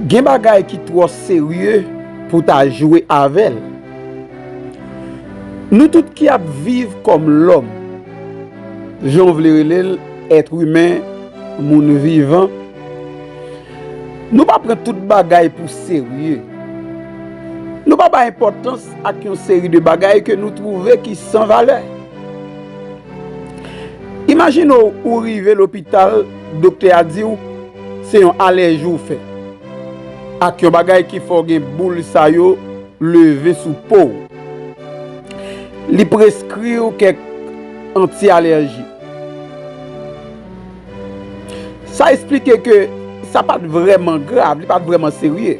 Gen bagay ki twò serye pou ta jwe avè l. Nou tout ki ap viv kòm lòm, jan w vle rele l, èt imen, moun vivan, nou pa pran tout bagay pou serye. Nou pa bay enpòtans ak yon seri de bagay ke nou twouve ki san valè. Imajine w ou rive lopital doktè a di w se yon alèji w fè ak yon bagay ki fè w gen boul sa yo leve sou po w. Li preskri w kèk anti-alèji. Sa esplike ke sa pa t vrèman grav, li pa t vrèman serye.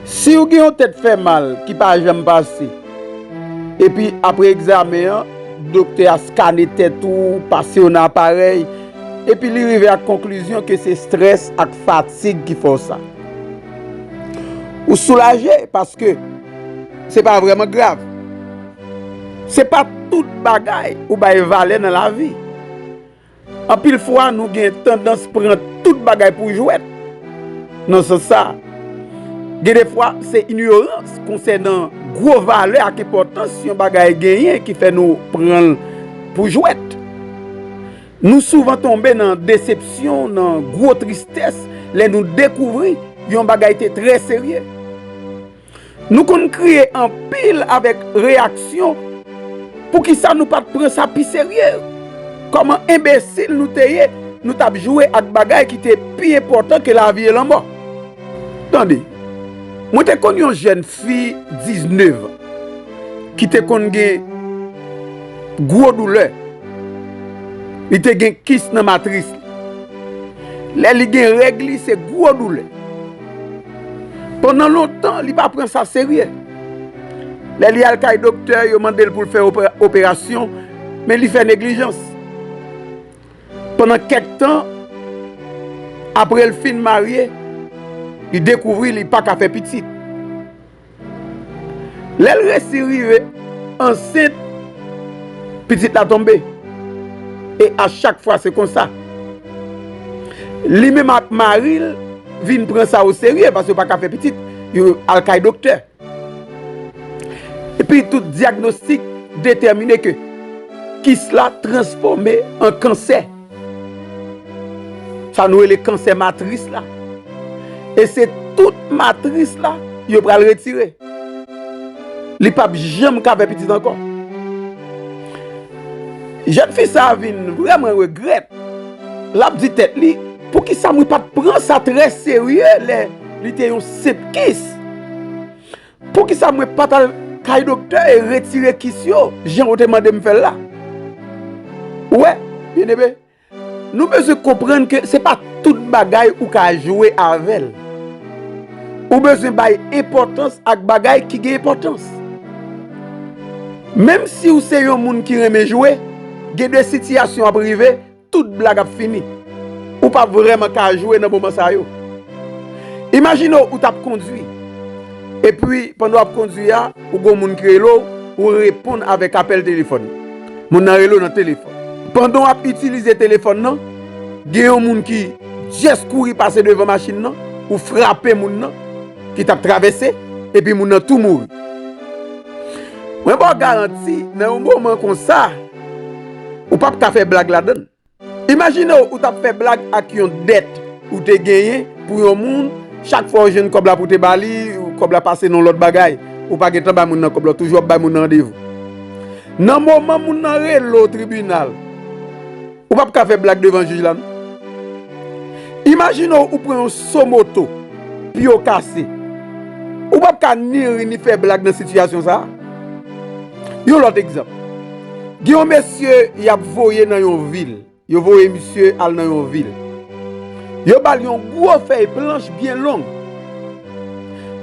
Si w gen yon tèt fè mal ki pa janm pase. Epi apre egzamen an, doktè a skane tèt ou, pase w nan aparèy, epi li rive ak konklizyon ke se strès ak fatig ki fè w sa. Ou soulaje paske se pa vrèman grav. Se pa tout bagay ou bay valè nan lavi. Anpil fwa nou gen tandans pran tout bagay pou jwèt nan sans sa. Gen de fwa se inyorans konsènan gwo valè ak enpòtans yon bagay genyen ki fè nou pran l pou jwèt. Nou souvan tonbe nan desepsyon, nan gwo tristès lè nou dekouvri yon bagay te trè serye. Nou konn kriye anpil avèk reyaksyon, poukisa nou pat pran sa pi serye? Kòman enbesil nou te ye, nou t ap jwe ak bagay ki te pi enpòtan ke lavi e lanmò? Tande, mwen te konn yon jèn fi diznevan ki te konn gen gwo doulè, li te gen kis nan matris li. Lè li gen règ li se gwo doulè. Pandan lontan, li pa pran sa serye. Lè li al kay doktè, yo mande l pou l fè operasyon, men li fè neglijans. Pandan kèk tan, apre l fin marye, li dekouvri li pa ka fè pitit. Lèl resi rive ansent pitit la tonbe e a chak fwa se konsa li menm ak maril vin pran sa o serye paske yo pa ka fè pitit yo al kay doktè epi tout diagnostik detèmine ke kis la transfòme an kansè. Sa nou rele kansè matris la. E se tout matris la yo pral retire. Li pap janm ka fè pitit ankò. Jèn fi sa vin vreman regrèt. Lap di tèt li, pou kisa mwen pat pran sa trè serye lè li te yon senp kis. Poukisa mwen pat al kay doktè e retire kis yo jan ou te mande m fè l la? Ou wè, byeneme, nou bezwen konprann ke se pa tout bagay ou ka jwe avè l. Ou bezwen bay enpòtans ak bagay ki gen enpòtans. Menmsi ou se yon moun ki renmen jwe, gen de sitiyasyon ap rive, Tout blag ap fini. Ou pa vrèman ka jwe nan moman sa yo. Imajine ou tap kondwi. Epi pandan wap kondwi a, ou gon moun ki rele w, ou reponn avèk apèl telefòn. Moun nan rele w nan telefòn. Pandan wap itilize telefòn nan, gen yon moun ki just kouri pase devan machin nan, ou frape moun nan ki tap travèse, epi moun nan tou mouri. Mwen ba w garanti nan yon moman konsa. Ou pap ka fè blag ladann. Imajine w ou t ap fè blag ak yon dèt ou te genyen pou yon moun, chak fwa ou jwenn kòb la pou w te ba li, kòb la pase nan yon lòt bagay. Ou pa gentan bay moun nan kòb la, ou toujou ap bay moun nan randevou. Nan moman moun nan rele w tribinal, ou pap ka fè blag devan jij la non. Imajine w ou pran yon so moto, pye w kase. Ou pap ka ni ri ni fè blag nan sitiyasyon sa a. Yon lòt egzanp, gen yon mesye y ap voye nan yon vil, yo voye misye al nan yon vil, yo ba l yon gwo fèy planch byen long,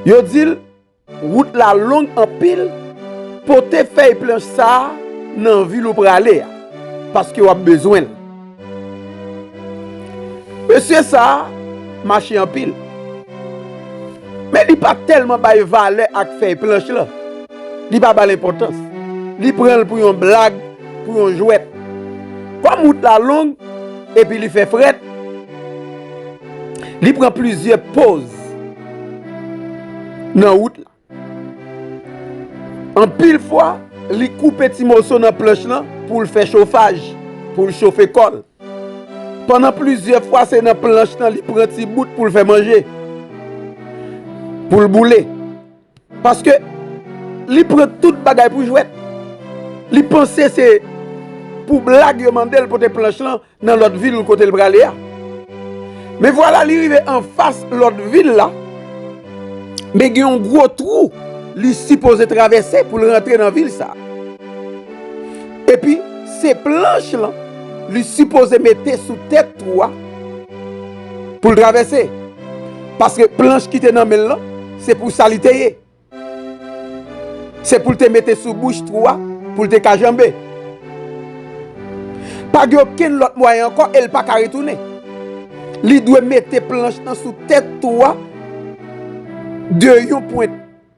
yo di l wout la long anpil, pote fèy planch sa a nan vil ou prale a, paske w ap bezwen l. Mesye sa mache anpil. Men li pa tèlman bay valè ak fèy planch lan. Li pa ba l enpòtans. Li pran l pou yon blag, pou yon jwèt. Kòm wout la long epi li fè frèt, li pran plizyè poz nan wout la. Anpil fwa, li koupe ti moso nan planch lan pou l fè chofaj, pou l chofe kò l. Pandan plizyè fwa se nan planch lan li pran ti bout pou l fè manje, pou l boule. Paske, li pran tout bagay pou jwèt. Li panse se pou blag yo mande l pote planch lan Nan lòt vil kote l prale a. Men vwala li rive anfas lòt vil la, men gen yon gwo twou li sipoze travèse pou l rantre nan vil sa. Epi, se planch lan li sipoze mete sou tèt twou a pou l travèse. Paske planch ki te nan men l lan, se pou sa li te ye. Se pou l te mete sou bouch twou a pou l te ka janbe. Pa gen okenn lòt mwayen ankò e l pa ka retounen. Li dwe mete planch nan sou tèt twou a de yon pwent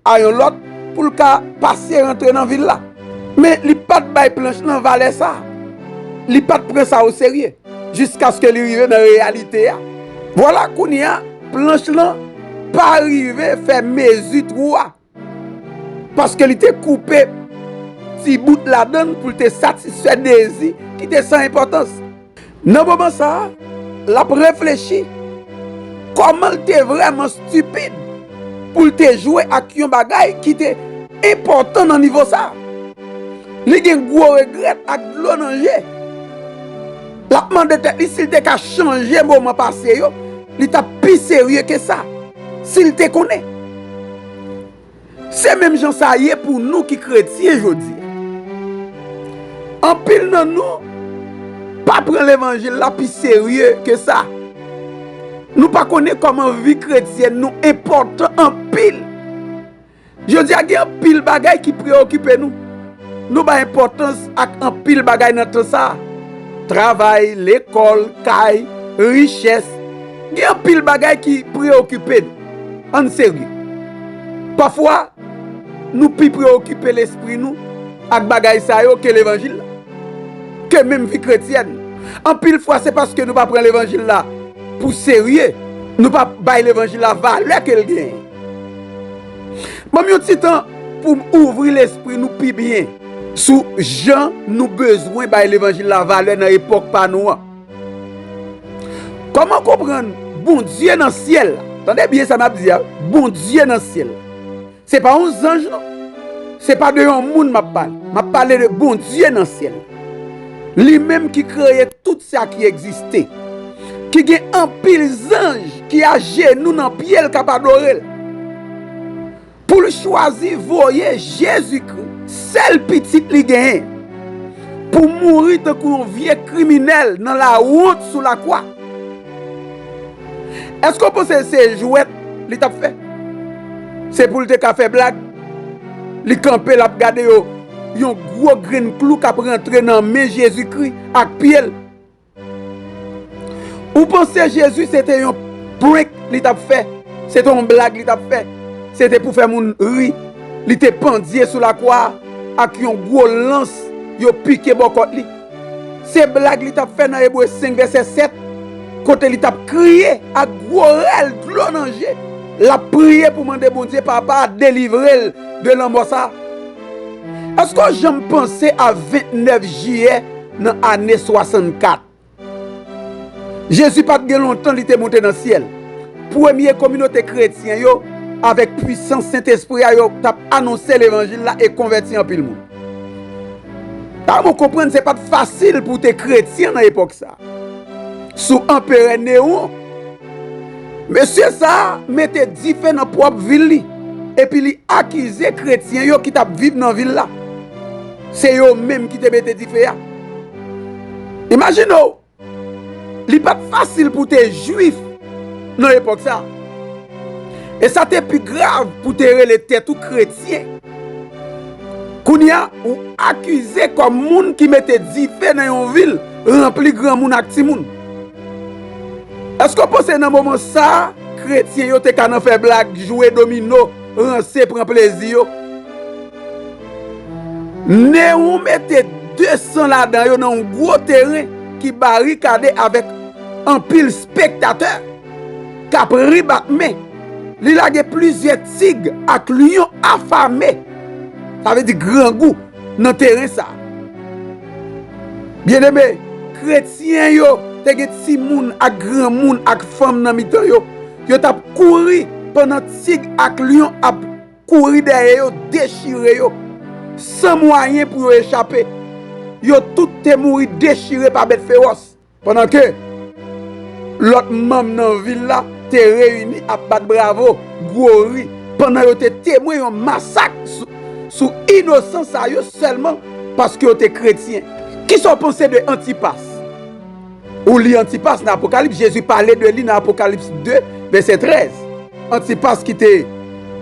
a yon lòt pou l ka pase rantre nan vil la. Men li pa t bay planch lan valè sa a. Li pa t pran sa oserye. jiskaske li rive nan reyalite a. Vwala kounye a, planch lan pa rive fè mezi twou a, paske li te koupe ti bout ladan l pou l te satisfè dezi ki te san enpòtans. Nan moman sa a, l ap reflechi kòman l te vrèman stipid. pou l te jwe ak yon bagay ki te enpòtan nan nivo sa. Li gen gwo regrèt ak dlo nan je. L ap mande tèt li si l te ka chanje moman pase yo, li t ap pi serye ke sa, si l te konnen. Se menm jan sa ye pou nou ki kretyen jodi a. Anpil nan nou pa pran levanjil la pi serye ke sa. Nou pa konnen kòman vi kretyèn nou enpòtan anpil. Jodi a gen anpil bagay ki preyokipe nou. Nou bay enpòtans ak anpil bagay nan tan sa a. Travay, lekòl, kay, richès. Gen anpil bagay ki preyokipe nou. Ann serye. Pafwa, nou pi preyokipe lespri nou ak bagay sa yo ke levanjil la. ke menm vi kretyèn. Anpil fwa se paske nou pa pran levanjil la pou serye, nou pa bay levanjil la valè ke l genyen. Banm yon ti tan poum ouvri lespri nou pi byen sou jan nou bezwen bay levanjil la valè nan epòk pa nou an. Kòman konprann Bondye nan syèl la, tande byen sa map di a, Bondye nan syèl la. Se pa yon zanj non. Se pa de yon moun m ap pale. M ap pale de Bondye nan syèl la. Li menm ki kreye tout sa ki egziste. Ki gen anpil zanj ki ajenou nan pye l k ap adore l. Pou l chwazi voye Jezikri, sèl Pitit li genyen, pou mouri tankou yon vye kriminèl nan lawont sou lakwa. Eske w panse se jwèt li tap fè? Se pou l te ka fè blag? Li kanpe lap gade yo, yon gwo grenn klou kap rantre nan men Jezikri ak pye l. Ou panse Jezi se te yon prank li tap fè? Se te yon blag li tap fè? Se te pou fè moun ri li te pandye sou lakwa a ak yon gwo lans yo pike bò kòt li? Se blag li t ap fè nan Ebre 5, vèsè 7, kote li t ap kriye ak gwo rèl dlo nan je, l ap priye pou mande Bondye Papa a delivre l de lanmò sa a. Èske w janm panse a 29 jiyè nan ane 64? Jezi pa t gen lontan li te monte nan syèl. Premye kominote kretyen yo, avèk puisans Sentespri a, yo t ap anonse levanjil la e konvèti anpil moun. Sa mwen konprann se pat fasil pou te kretyen nan epòk sa. Sou anperè Newon, mesye sa mete dife nan pwòp vil li epi li akize kretyen yo ki tap viv nan vil la. Se yo menm ki te mete dife a. Imajine ou, Li pa t fasil pou w te Juif nan epòk sa a. E sa te pi grav pou w te rele tèt ou kretyen. Kounye a, ou akize kòm moun ki mete dife nan yon vil ranpli granmoun ak timoun. Èske w panse nan moman sa a kretyen yo te ka nan fè blag, jwe domino, ranse, pran plezi yo? Neron mete 200 ladan yo nan yon gwo teren ki barikade avèk anpil spektatè k ap ri bat men. Li lage plizyè tig ak lyon afame, sa vle di grangou, nan teren sa a. Byeneme, kretyen yo te gen timoun ak granmoun ak fanm nan mitan yo, yo t ap kouri pandan tig ak lyon ap. Kouri dèyè yo, dechire yo, san mwayen pou yo echape. Yo tout te mouri dechire pa bèt fewòs. Pandan ke lòt manm nan vil la te reyini ap bat bravo, gwo ri, pandan yo te temwen yon masak sou inosan sa yo sèlman paske yo te kretyen. Kisa w panse de Antipas? Ou li Antipas nan Apokalips, Jezi pale de li nan Apokalips 2, vèsè 13. Antipas ki te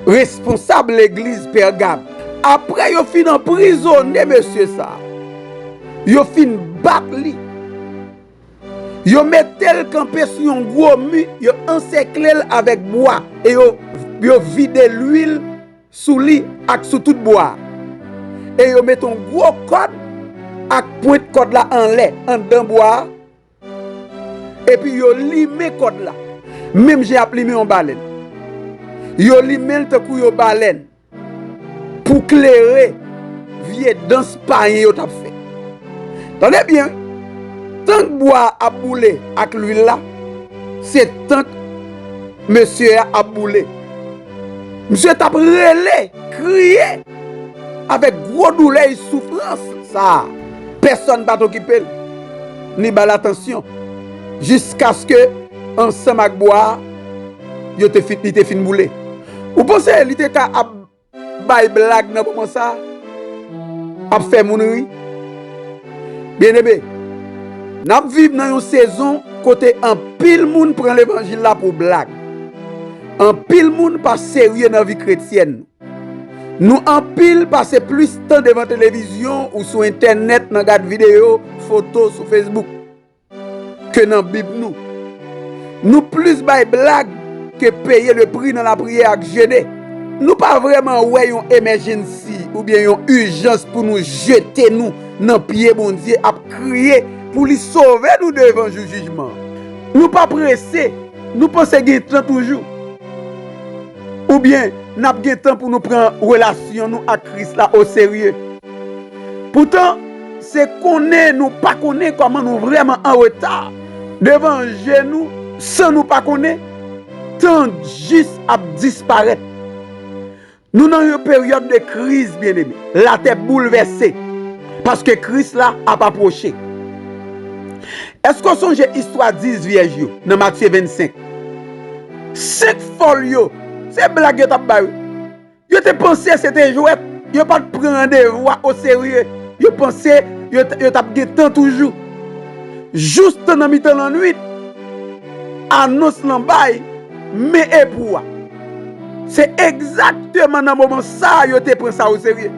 responsab legliz Pègam. Apre yo fin anprizone mesye sa a, yo fin bat li, yo mete l kanpe sou yon gwo mi, yo ansèkle l avèk bwa e yo vide luil. sou li ak sou tout bò a, e yo mete yon gwo kòd ak pwent kòd la anlè anndan bwa a, epi yo limen kòd la menm jan y ap limen yon balèn. Yo limen l tankou yon balèn pou klere vye dans payen yo t ap fè. Tande byen wi! Tank bwa a ap boule ak luil la, se tank mesye a ap boule. Misye tap rele, kriye, avèk gwo doulè e soufrans sa a. Pèsòn pa t okipe l, ni ba l atansyon, jiskaske ansanm ak bwa a, yo te fin, li te fin boule. Ou panse li te ka ap bay blag nan moman sa a? Ap fè moun ri? Byeneme, n ap viv nan yon sezon kote anpil moun pran levanjil la pou blag. Anpil moun pa serye nan vi kretyèn. Nou anpil pase plis tan devan televizyon ou sou entènèt nan gad videyo, foto sou Facebook ke nan bib nou. Nou plis bay blag ke peye le pri nan lapriyè ak jene. Nou pa vrèman wè yon emèjensi oubyen yon ijans pou nou jete nou nan pye Bondye ap kriye pou li sove nou devan jou jijman an. Nou pa prese. Nou panse gen tan toujou? Oubyen n ap gen tan pou nou pran relasyon nou ak Kris la oserye? Poutan, se konnen nou pa konnen kòman nou vrèman anreta devan je nou san nou pa konnen. Tan jis ap disparèt. Nou nan yon peryòd de kriz, byeneme. Latè boulvèse, paske Kris la ap apwoche. Èske w sonje istwa dis vyèj yo nan Matye 25? Senk fòl yo, se blag yo t ap bay wi. Yo te panse se te jwèt, yo pa t pran randevou a oserye, yo panse yo t ap gen tan toujou. Joustan nan mitan lannuit, anons lan bay, Men epou a! Se egzakteman nan moman sa a yo te pran sa oserye.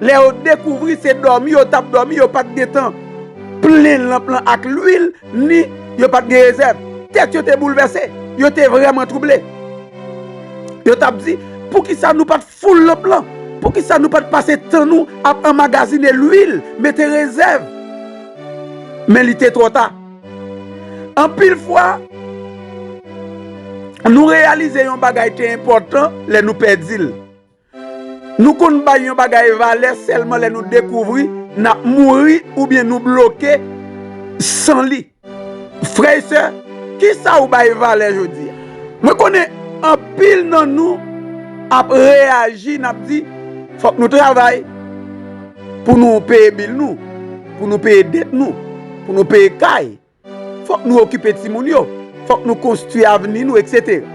Lè yo dekouvri se dòmi yo t ap dòmi, yo pa t gen tan plen lanp lan ak luil ni yo pa t gen rezèv. Tèt yo te boulvèse, yo te vrèman twouble. Yo t ap di, 'Poukisa nou pa t foul lanp lan? Poukisa nou pa t pase tan nou ap anmagazine luil, mete rezèv? Men li te twò ta. Anpil fwa, nou reyalize yon bagay te enpòtan lè nou pèdi l. Nou konn bay yon bagay valè sèlman lè nou dekouvri n ap mouri oubyen nou bloke san li. Frè e sè, ki sa ou bay valè jodi a? Mwen konnen anpil nan nou ap reyaji, n ap di, Fòk nou travay. Pou nou peye bil nou, pou nou peye dèt nou, pou nou peye kay, fòk nou okipe timoun yo, fòk nou konstwi avni nou, eksetera.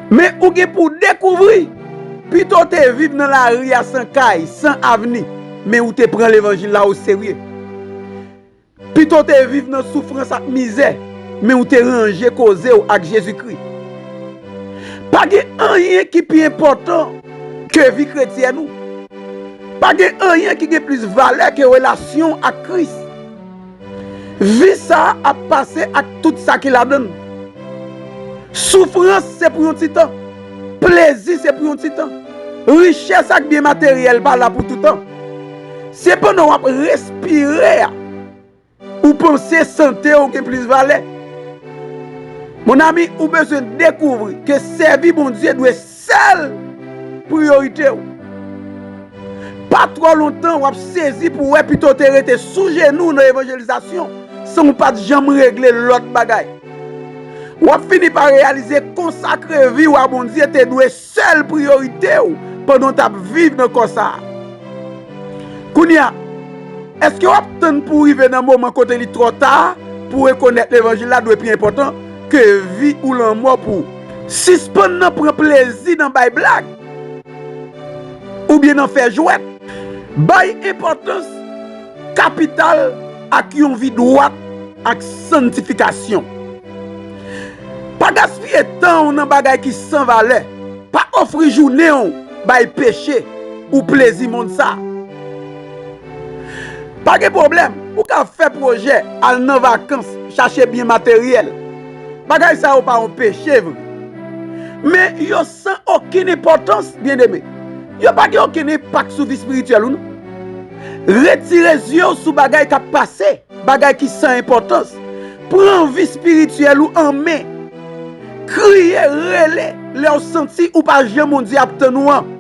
Men ou gen pou w dekouvri, pito w te viv nan lari a san kay, san avni, men ou te pran levanjil la oserye. Pito w te viv nan soufrans ak mizè, men ou te ranje koze w ak Jezikri. Pa gen anyen ki pi enpòtan ke vi kretyèn ou. Pa gen anyen ki gen plis valè ke relasyon w ak Kris. Vi sa a ap pase ak tout sa ki ladan l. Soufrans se pou yon ti tan. Plezi se pou yon ti tan. Richès ak byen materyèl pa la pou toutan. Se pandan w ap respire a ou panse sante w gen plis valè. Mon ami, ou bezwen dekouvri ke sèvi Bondye dwe sèl priyorite w. Pa twò lontan w ap sezi pou w wè pito w te rete sou jenou w nan evanjelizasyon san w pa t janm regle lòt bagay. W ap fini pa reyalize konsakre vi w a Bondye te dwe sèl priyorite w pandan w t ap viv nan kò sa a. Kounye a, èske w ap tann pou w rive nan moman kote li twò ta pou w rekonèt levanjil la dwe pi enpòtan ke vi ou lanmò pou w? Sispann nan pran plezi nan bay blag oubyen nan fè jwèt. Bay enpòtans kapital ak yon vi dwat. ak santifikasyon. Pa gaspiye tan w nan bagay ki san valè, pa ofri jounen w bay peche ou plezi mond sa. Pa gen pwoblèm, ou ka fè pwojè, al nan vakans, chache byen materyèl. Bagay sa yo pa yon peche vre. Men, yo san okenn enpòtans, byeneme. Yo pa gen okenn enpak sou vi espirityèl ou non. Retire zye w sou bagay k ap pase. Bagay ki san enpòtans. Pran vi spirityèl ou an men. Kriye, rele lè ou santi ou pa jan Bondye ap tann ou an.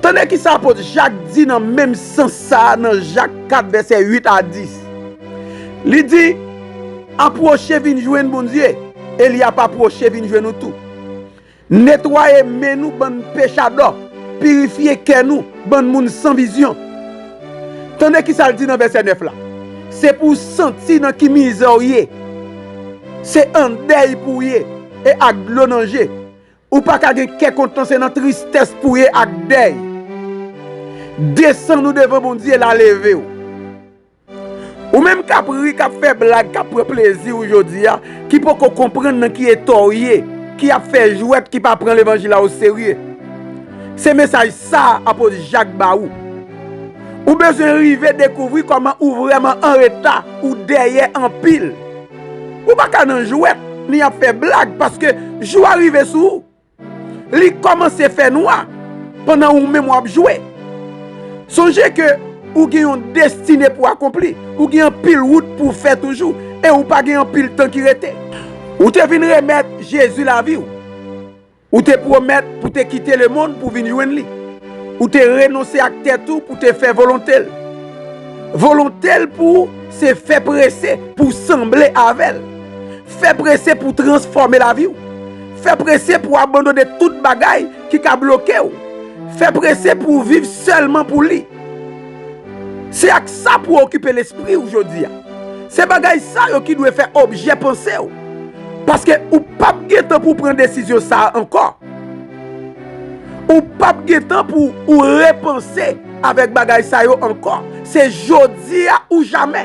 Tande kisa apot Jak di nan menm sans sa a nan Jak 4 vèsè 8 a 10. Li di, Apwoche vin jwenn Bondye, e li ap apwoche vin jwenn ou tou. Netwaye men nou bann pechadò, pirifye kè nou bann moun san vizyon. Tande kisa l di nan vèsè 9 la, Se pou w santi nan ki mizè w ye, se an dèy pou w ye e ak dlo nan je. Ou pa ka gen kè kontan se nan tristès pou w ye ak dèy. Desann ou devan Bondye l a leve w. Ou menm kap ri, kap fè blag, kap pran plezi ou jodi a, ki poko konprann nan ki eta ou ye, ki ap fè jwèt, ki pa pran levanjil la oserye. Se mesaj sa Apot Jak ba ou. Ou bezwen rive dekouvri kòman ou vrèman anreta, ou dèyè anpil. Ou pa ka nan jwèt, ni ap fè blag, paske jou a rive sou ou. Li kòmanse fè nwa pandan ou menm wap jwe. Sonje ke ou gen yon destine pou akonpli, ou gen anpil wout pou w fè toujou e ou pa gen anpil tan ki rete. Ou te vin remèt Jezi lavi w. Ou te pwomèt pou te kite lemonn pou vin jwenn li. Ou te renonse ak tèt ou pou te fè volonte l. Volonte l pou ou se fè prese pou w sanble avè l. Fè prese pou w transfòme lavi w. Fè prese pou w abandone tout bagay ki ka bloke w. Fè prese pou w viv sèlman pou Li. Se ak sa pou w okipe lespri w jodi a. Se bagay sa yo ki dwe fè objè panse w. Paske ou pap gen tan pou w pran desizyon sa a ankò. Ou pap gen tan pou ou repanse avèk bagay sa yo ankò. Se jodi a ou jamè.